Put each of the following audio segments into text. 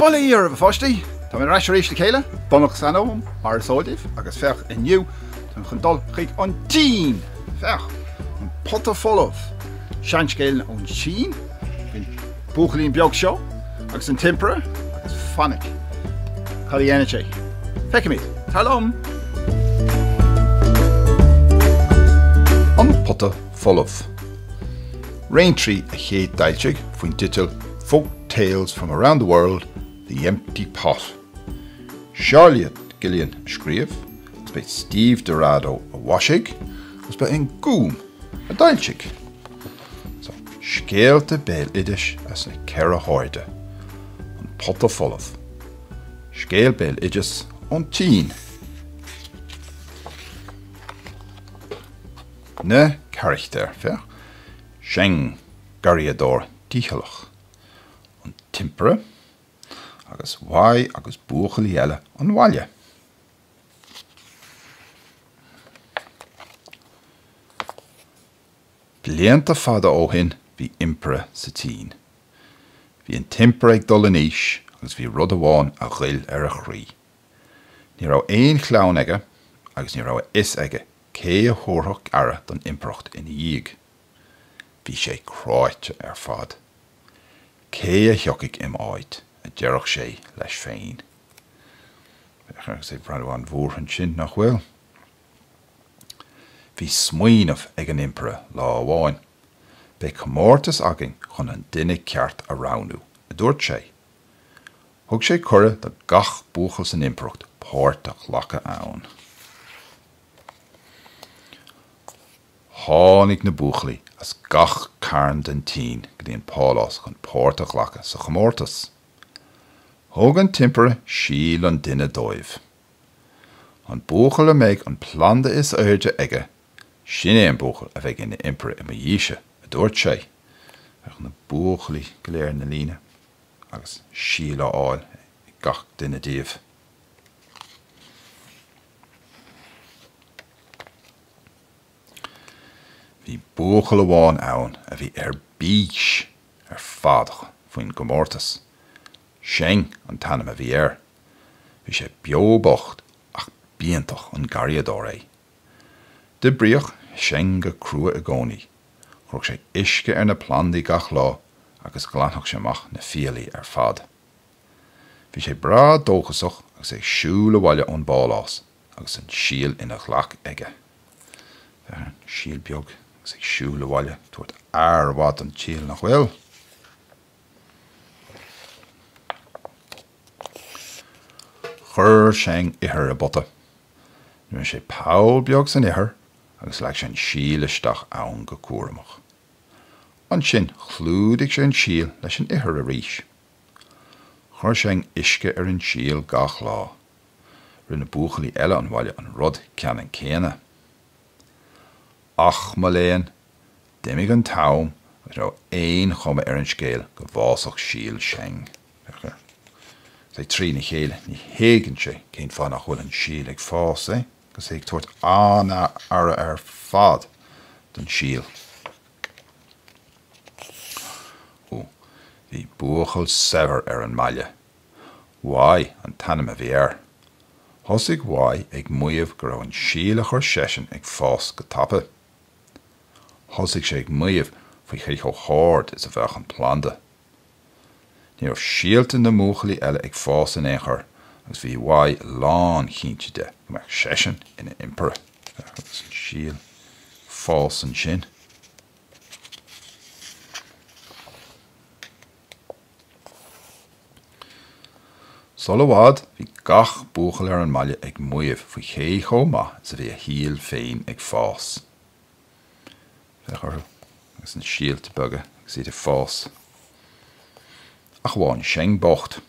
Bullaí oraibh a pháistí! Tá mé ar ais arís le scéal iontach san am, mar is eol daoibh, agus féach inniu, táim chun dul chuig an tSín! Féach! An Pota Folamh! Seanscéal ón tSín, bíonn. buachaillín beag seo agus an tImpire agus fainic cad a dhéanann sé. Feicimid. Tar liom! An pota folamh. Raintree a chéadfhoilsigh faoin teideal Folk Tales from Around the World, The Empty Pot. Charlotte Guillain a scríobh, agus ba é Steve Dorado a mhaisigh, agus ba é an Gúm a d'fhoilsigh. So, scéalta béaloidis as na ceithre hairde, An Pota Folamh, Scéal Béaloidis ón tSín, Na Carachtair, féach, Cheng, Garraíodóir Dícheallach, An tImpire, agus Wei agus Buachaillí Eile an Bhaile. Blianta fada ó shin bhí Impire sa tSín. Bhí an tImpire ag dul in aois agus bhí rud amháin a ghoill ar a chroí. Ní raibh aon chlann aige agus ní raibh a fhios aige cé a thabharfadh aire don Impireacht ina dhiaidh. Bhí sé cráite ar fad. Cé a thiocfaidh im' áit? a deireadh sé leis féin. Féach, agus é ag breathnú an-bhuartha ansin, nach bhfuil? Bhí smaoineamh ag an Impire lá amháin. Beidh comórtas againn chun an duine ceart a roghnú, a dúirt sé. Thug sé cuireadh do gach buachaill san Impireacht páirt a ghlacadh ann. Tháinig na buachaillí as gach cearn den tSín go dtí an pálás chun páirt a ghlacadh sa chomórtas. Thug an tImpire síol an duine dóibh. An buachaill a mbeidh an planda is airde aige, sin é an buachaill a bheidh ina impire i mo dhiaidhse, a dúirt sé. Féach na buachaillí go léir ina líne agus síol á fháil ag gach duine díobh. Bhí buachaill amháin ann a bhí ar bís ar fad faoin gcomórtas. Cheng an t-ainm a bhí air Bhí sé beo bocht ach b'iontach an garraíodóir é. D'oibríodh Cheng go crua i gcónaí, chuirfeadh sé uisce ar na plandaí gach lá agus ghlanfadh sé amach na fiailí ar fad. Bhí sé breá dóchasach agus é ag siúl abhaile ón bpálás agus an síol ina ghlac aige. Féach an síol beag agus é ag siúl abhaile ag tabhairt aire mhaith don tsíol, nach bhfuil? Chuir Cheng ithir i bpota. Rinne sé poll beag san ithir agus leag sé an síol isteach ann go cúramach. Ansin chlúdaigh sé an síol leis an ithir arís. Chuir Cheng uisce ar an síol gach lá. Rinne buachaillí eile an bhaile an rud ceannann céanna. Ach, mo léan, d'imigh an t-am agus ní raibh aon chuma ar an scéal go bhfásfadh síol Cheng. Is é trína chéile ní thuigeann sé cén fáth nach bhfuil an síol ag fás, é, agus é ag tabhairt an-aire ar fad don síol. Ó, bhí buachaill saibhir ar an mbaile. Wai an t-ainm a bhí air. Thosaigh Wai ag maíomh go raibh an síol a chuir seisean ag fás go tapa. Thosaigh sé ag maíomh faoi cé chomh hard is a bheadh an planda. Ní raibh síolta na mbuachaillí eile ag fás in aon chor agus bhí Wai lánchinnte de go mbeadh seisean ina Impire. Féach agus an síol ag fás ansin. Sul i bhfad, bhí gach buachaill ar an mbaile ag maíomh faoi cé chomh maith is a bhí a shíol féin ag fás. Féach orthu, agus na síolta beaga agus iad ag fás. Ach amháin Cheng bocht.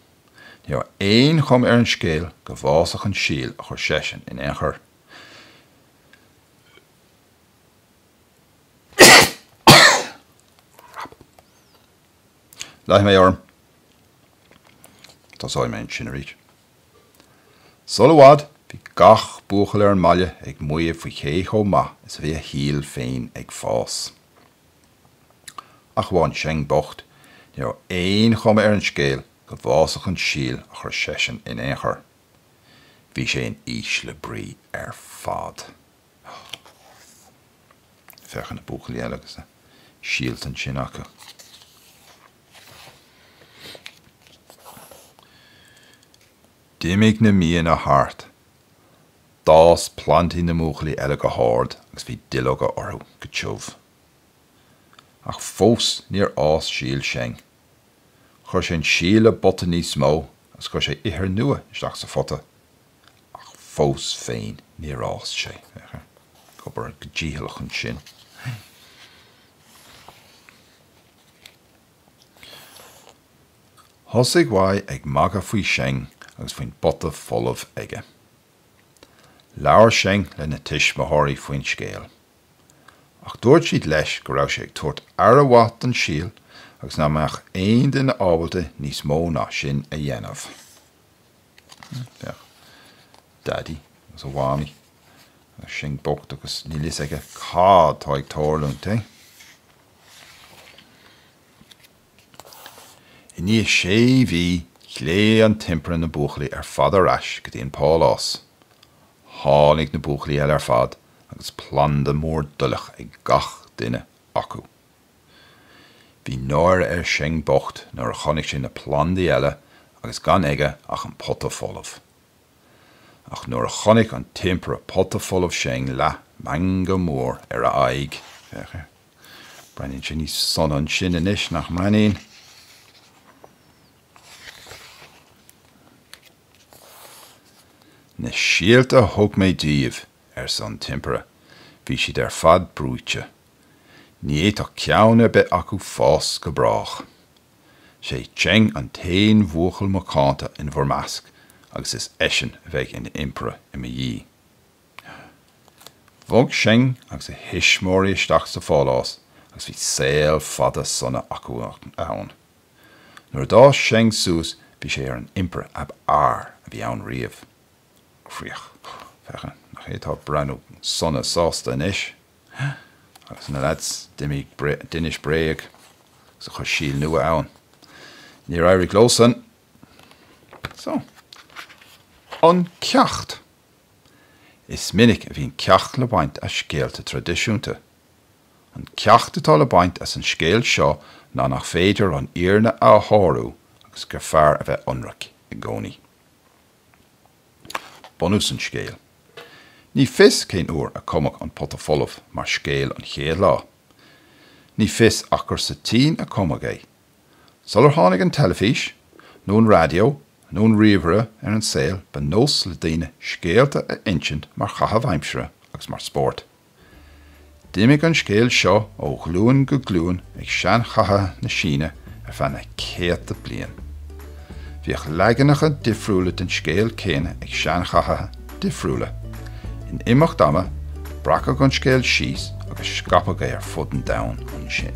Ní raibh aon chuma ar an scéal go bhfásfadh an síol a chuir seisean in aon chor. Leanfaidh mé orm. Tosóidh mé ansin arís. Sul i bhfad, bhí gach buachaill ar an mbaile ag maíomh faoi cé chomh maith is a bhí a shíol féin ag fás. Ach amháin Cheng bocht. Ní raibh aon chuma ar an scéal go bhfásfadh an síol a chuir seisean in aon chor. Bhí sé in ísle brí ar fad. Féach ar na buachaillí eile agus na síolta ansin acu. D'imigh na míonna thart. D'fhás plandaí na mbuachaillí eile go hard agus bhí duilleoga orthu go tiubh. Ach fós níor fhás síol Cheng. Chuir sé an síol i bpota níos mó agus chuir sé ithir nua isteach sa phota. ach fós féin níor fhás sé. Ag obair go dícheallach ansin, thosaigh Wei ag magadh faoi Cheng agus faoin bpota folamh aige. Labhair Cheng lena tuismitheoirí faoin scéal, ach dúirt siad leis go raibh sé ag tabhairt aire mhaith don síol agus nach mbeadh aon duine ábalta níos mó ná sin a dhéanamh. Féach. Daidí agus a Mhamaí. Agus Cheng bocht agus níl fhios aige cad atá ag tarlúint, eh? I ndiaidh sé mhí, ghlaoigh an tImpire na buachaillí ar fad ar ais go dtí an pálás. Tháinig na buachaillí eile ar fad agus planda mór duilleach ag gach duine acu. Bhí náire ar Cheng bocht nuair a chonaic sé na plandaí eile agus gan aige ach an pota folamh. Ach nuair a chonaic an tImpire pota folamh Cheng leath meangadh mór ar a aghaidh. Breathnaíonn sé níos sona ansin anois, nach mbreathnaíonn? Na síolta a thug mé daoibh, arsa an tImpire, bhí siad ar fad bruite. Ní fhéadfadh ceann ar bith acu fás go brách. Sé Cheng an t-aon bhuachaill macánta in bhur measc agus is eisean a bheidh ina Impire i mo dhiaidh. Bhog Cheng agus a thuismitheoirí isteach sa phálás agus bhí saol fada sona acu ann. Nuair a d'fhás Cheng suas bhí sé ar an Impire ab fhearr a bhí ann riamh. Críoch. Féach, nach é atá ag breathnú sona sásta anois. Agus na leaids a d'inis bréag agus a chuir síol nua ann. Níor éirigh leosan. So. An ceacht. Is minic a bhíonn ceacht le baint as scéalta traidisiúnta. An ceacht atá le baint as an scéal seo ná nach féidir an fhírinne a shárú agus gur fearr a bheith ionraic i gcónaí. bunús an scéil. Ní fios cén uair a cumadh An Pota Folamh mar scéal an chéad lá. Ní fios ach gur sa tSín a cumadh é. Sular tháinig an teilifís, nó an raidió, nó an ríomhaire ar an saol ba nós le daoine scéalta a insint mar chaitheamh aimsire agus mar spórt. D'imigh an scéal seo ó ghlúin go glúin ag seanchaithe na Síne ar feadh na céadta bliain. Bhíodh leaganacha difriúla den scéal céanna ag seanchaithe difriúla. In imeacht ama, breacadh an scéal síos agus scaipeadh é ar fud an domhain ansin.